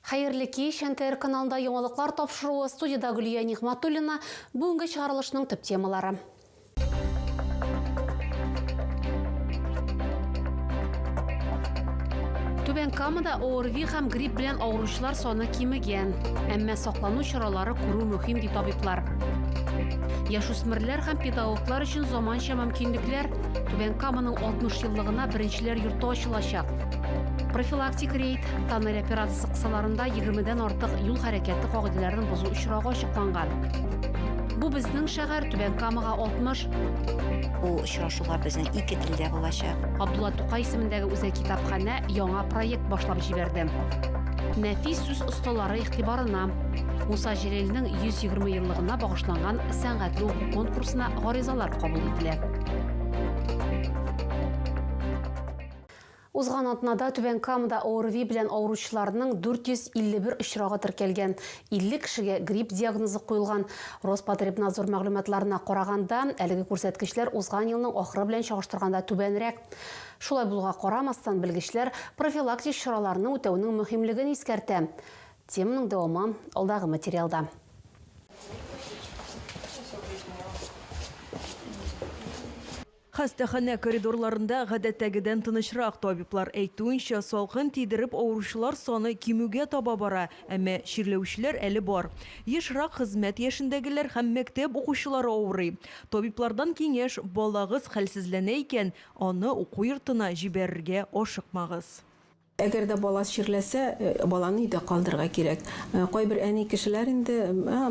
Хәерле кич! НТР каналында яңалыклар тапшыруы, студиядә Гөлия Нигъматуллина, бүгенге чыгарылышның төп темалары. Түбән Камада ОРВИ һәм грипп белән авыручылар саны кимегән. Әмма саклану чаралары күрү мөһим, ди табиблар. Яшүсмерләр һәм педагоглар өчен заманча мөмкинлекләр Түбән Каманың 60 еллыгына беренчеләр йорты ачылачак. Профилактик рейд, Тоннель операциясе кысаларында 20-дән артык юл хәрәкәте кагыйдәләрен бозу очрагы ачыкланган. Бу безнең шәһәр Түбән Камага 60. Бу очрашулар безнең ике телдә булачак. Абдулла Тукай исемендәге үзәк китапханә яңа проект башлап җибәрде. Нәфис сүз осталары игътибарына. Муса Җәлилнең 120 еллыгына багышланган сәнгатьле уку конкурсына гаризалар кабул ителә. Узган атнада Түбән Камада ОРВИ белән авыручыларның 451 очрагы теркәлгән, 50 кешегә грипп диагнозы куелган. Роспотребнадзор мәгълүматларына караганда, әлеге күрсәткечләр узган елның ахыры белән чагыштырганда түбәнрәк. Шулай булуга карамастан, белгечләр профилактик чараларны үтәүнең мөһимлеген искәртә. Теманың дәвамы алдагы материалда. Хастаханә коридорларында гадәттәгедән тынычрак, табиблар әйтүенчә, салкын тидереп авыручылар саны кимүгә таба бара, әмма чирләүчеләр әле бар. Ешрак, хезмәт яшендәгеләр һәм мәктәп укучылары авырый. Табиблардан киңәш, балагыз хәлсезләнә икән, аны уку йортына җибәрергә ашыкмагыз. Әгәр дә бала чирләсә, баланы өйдә калдырырга кирәк. Кайбер әни кешеләр инде,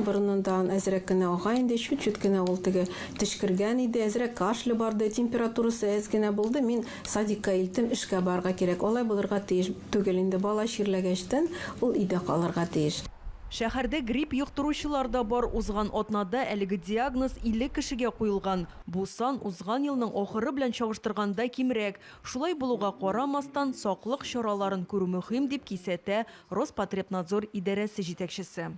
борынын тагын әзрәк кенә ага инде, чүт-чүт кенә ул теге төчкергән иде, әзрәк кашле барды, температурасы әз генә булды, мин садикка илтим, эшкә барырга кирәк. Алай булырга тиеш түгел инде, бала чирләгәчтен ул өйдә калырга тиеш. Шәһәрдә грипп йоктыручылар да бар, узган атнада әлеге диагноз 50 кешегә куелган. Бу сан узган елның ахыры белән чагыштырганда кимрәк. Шулай булуга карамастан, саклык чараларын күрү мөһим, дип кисәтә Роспотребнадзор идарәсе җитәкчесе.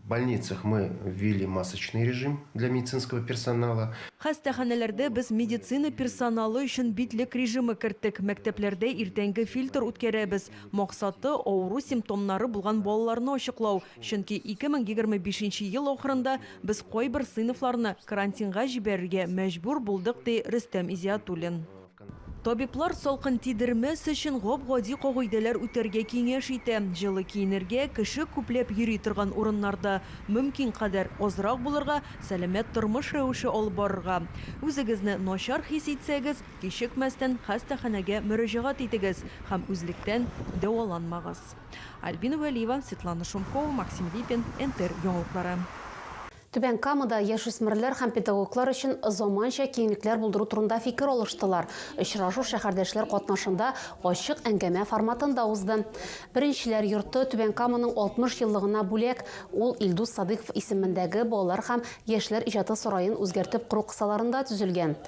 В больницах мы ввели масочный режим для медицинского персонала. Хастаханәләрдә без медицина персоналы өчен битлек режимы керттек, мәктәпләрдә иртәнге фильтр үткәрәбез. Максаты, авыру симптомнары булган балаларны ачыклау, Чөнки 2025 ел ахырында без кайбер сыйныфларны карантинга җибәрергә мәҗбүр булдык, ди Рөстәм Изиатуллин. Табиблар салкын тидермәс өчен гап-гади кагыйдәләр үтәргә киңәш итә, җылы киенергә, кеше күпләп йөри торган урыннарда мөмкин кадәр азрак булырга, сәламәт тормыш рәвеше алып барырга. Үзегезне начар хис итсәгез, кичекмәстән хастаханәгә мөрәҗәгать итегез һәм үзлектән дәваланмагыз. Альбина Вәлиева, Светлана Шумкова, Максим Липин, НТР яңалыклары. Түбән Камада яшүсмерләр һәм педагоглар өчен заманча киңлекләр булдыру турында фикер алыштылар. Очрашу шәһәрдәшләр катнашында ачык әңгәмә форматында узды. Беренчеләр йорты Түбән Каманың 60 еллыгына бүләк, ул Илдус Садыйков исемендәге балалар һәм яшьләр иҗаты сараен үзгәртеп кору кысаларында төзелгән.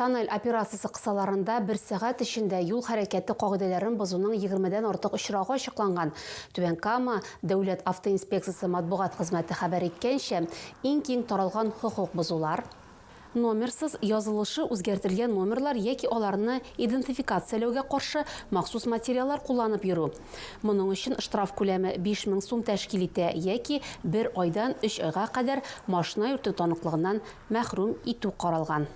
Тоннель операциясе кысаларында бер сәгать эчендә юл хәрәкәте кагыйдәләрен бозуның егермедән артык очрагы ачыкланган. Түбән Кама дәүләт автоинспекциясе матбугат хезмәте хәбәр иткәнчә, иң киң таралган хокук бозулар, номерсыз язылышы үзгәртелгән номерлар яки аларны идентификацияләүгә каршы махсус материаллар кулланып йөрү, моның өчен штраф күләме 5 мең сум тәшкил итә, яки бер айдан өч айга кадәр машина йөртү таныклыгыннан мәхрүм итү каралган.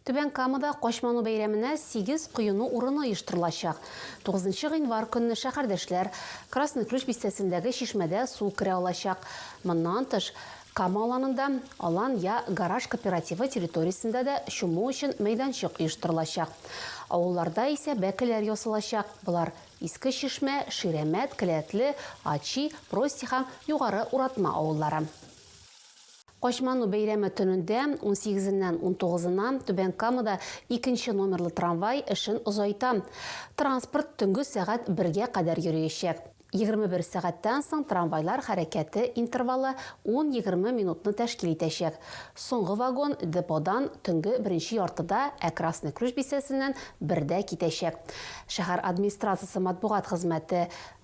Түбән Камада Качману бәйрәменә сигез коену урыны оештырылачак. Тугызынчы гыйнвар көнне шәһәрдәшләр Красный Ключ бистәсендәге чишмәдә су керә алачак. Моннан тыш, Кама аланында, Алан я гараж кооперативы территориясендә дә чуму өчен мәйданчык оештырылачак. Авылларда исә бәкеләр ясалачак, болар, Иске Чишмә, Ширәмәт, Келәтле, Ачи, Прости һәм Югары Уратма авыллары. Качману бәйрәме төнендә, унсигезеннән унтугызына, Түбән Камада икенче номерлы трамвай эшен озайта. Транспорт төнге сәгать бергә кадәр йөриячәк. Егерме бер сәгатьтән соң трамвайлар хәрәкәте интервалы ун-егерме минутны тәшкил итәчәк. Соңгы вагон деподан төнге беренче яртыда, ә Красный Ключ бистәсеннән бердә китәчәк. Шәһәр администрациясе матбугат хезмәте.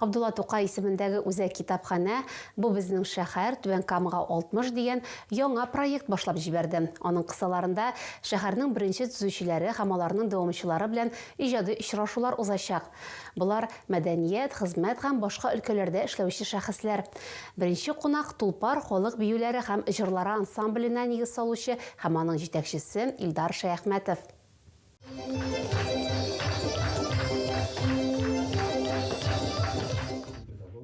Габдулла Тукай исемендәге үзәк китапханә Бу безнең шәһәр, Түбән Камага 60 дигән яңа проект башлап җибәрде. Аның кысаларында шәһәрнең беренче төзүчеләре һәм аларның дәвамчылары белән иҗади очрашулар узачак. Болар, мәдәният, хезмәт һәм башка өлкәләрдә эшләүче шәхесләр. Беренче кунак, Тулпар халык биюләре һәм җырлары ансамбленә нигез салучы һәм аның җитәкчесе Илдар Шәяхмәтов.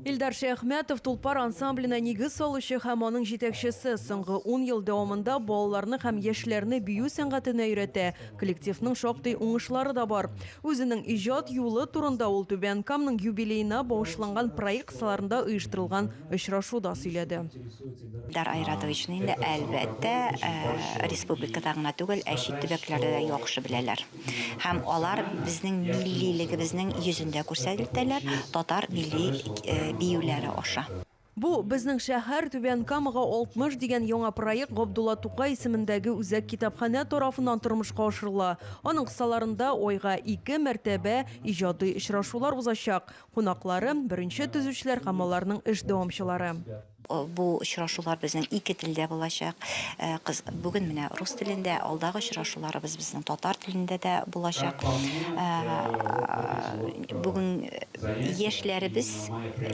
Илдар Шәяхмәтов, Тулпар ансамбленә нигез салучы һәм аның җитәкчесе, соңгы ун ел дәвамында балаларны һәм яшьләрне бию сәнгатенә өйрәтә, Коллективның шактый уңышлары да бар. Үзенең иҗат юлы турында ул Түбән Камның юбилеена багышланган проект саларында оештырылган очрашуда сөйләде. Илдар Айратовичны инде, әлбәттә, республикада гына түгел, ә чит төбәкләрдә дә яхшы беләләр. Һәм алар безнең миллилегебезнең йөзен дә күрсәтелтәләр татар милли биюләре аша. Бу, безнең шәһәр, Түбән Камага 60 дигән яңа проект Габдулла Тукай исемендәге үзәк китапханә тарафыннан тормышка ашырыла. Аның кысаларында айга ике мәртәбә иҗади очрашулар узачак. Кунаклары, беренче төзүчеләр һәм аларның эш дәвамчылары. Бу очрашулар безнең ике телдә булачак. Бүген менә рус телендә, алдагы очрашуларыбыз безнең татар телендә дә булачак. Бүген яшьләребез,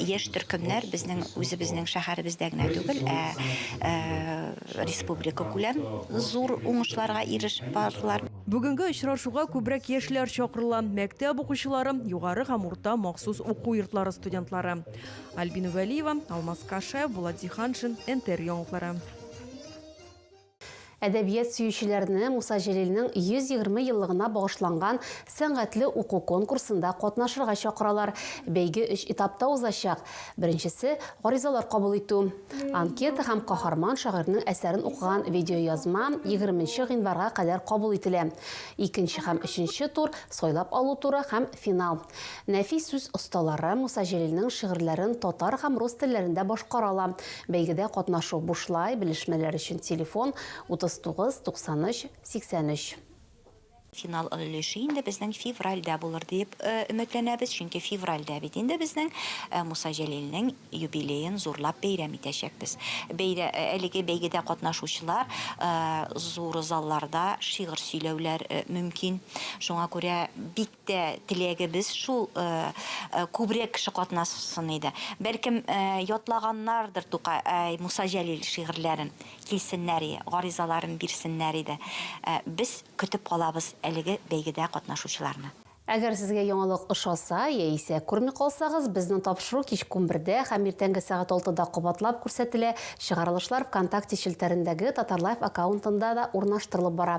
яшь төркемнәр безнең үзебезнең шәһәребездә генә түгел, ә республикакүләм зур уңышларга ирешеп бардылар. Бүгенге очрашуга күбрәк яшьләр чакырыла, мәктәп укучылары, югары һәм урта махсус уку йортлары студентлары. Альбина Вәлиева, Алмаз Кашаев, Булат Зиһаншин, НТР яңалыклары. Әдәбият сөючеләрне Муса Җәлилнең 120 еллыгына багышланган сәнгатьле уку конкурсында катнашырга чакыралар. Бәйге өч этапта узачак. Беренчесе, гаризалар кабул итү. Анкета һәм каһарман шагыйрьнең әсәрен укыган видеоязма егерменче гыйнварга кадәр кабул ителә. Икенче һәм өченче тур, сайлап алу туры һәм финал. Нәфис сүз осталары Муса Җәлилнең шигырьләрен татар һәм рус телләрендә башкара ала. Бәйгедә катнашу бушлай, белешмәләр өчен телефон, 39 93 83. Финал өлеше инде безнең февральдә булыр диеп өметләнәбез, чөнки февральдә бит инде безнең Муса Җәлилнең юбилеен зурлап бәйрәм итәчәкбез. Бәйрә әлеге бәйгедә катнашучылар зур залларда шигырь сөйләүләр мөмкин. Шуңа күрә бик тә теләгебез шул, күбрәк кеше катнасын иде. Бәлкем, ятлаганнардыр Тукай, әй, Муса Җәлил шигырьләрен, килсеннәр и, гаризаларын бирсеннәр иде. Без көтеп калабыз әлеге бәйгедә катнашучыларны. Әгәр сезгә яңалык ошаса, яисә күрми калсагыз, безнең тапшыру кичке унбердә һәм иртәнге сәгать алтыда кабатлап күрсәтелә, чыгарылышлар ВКонтакте челтәрендәге Татарлайф аккаунтында да урнаштырылып бара.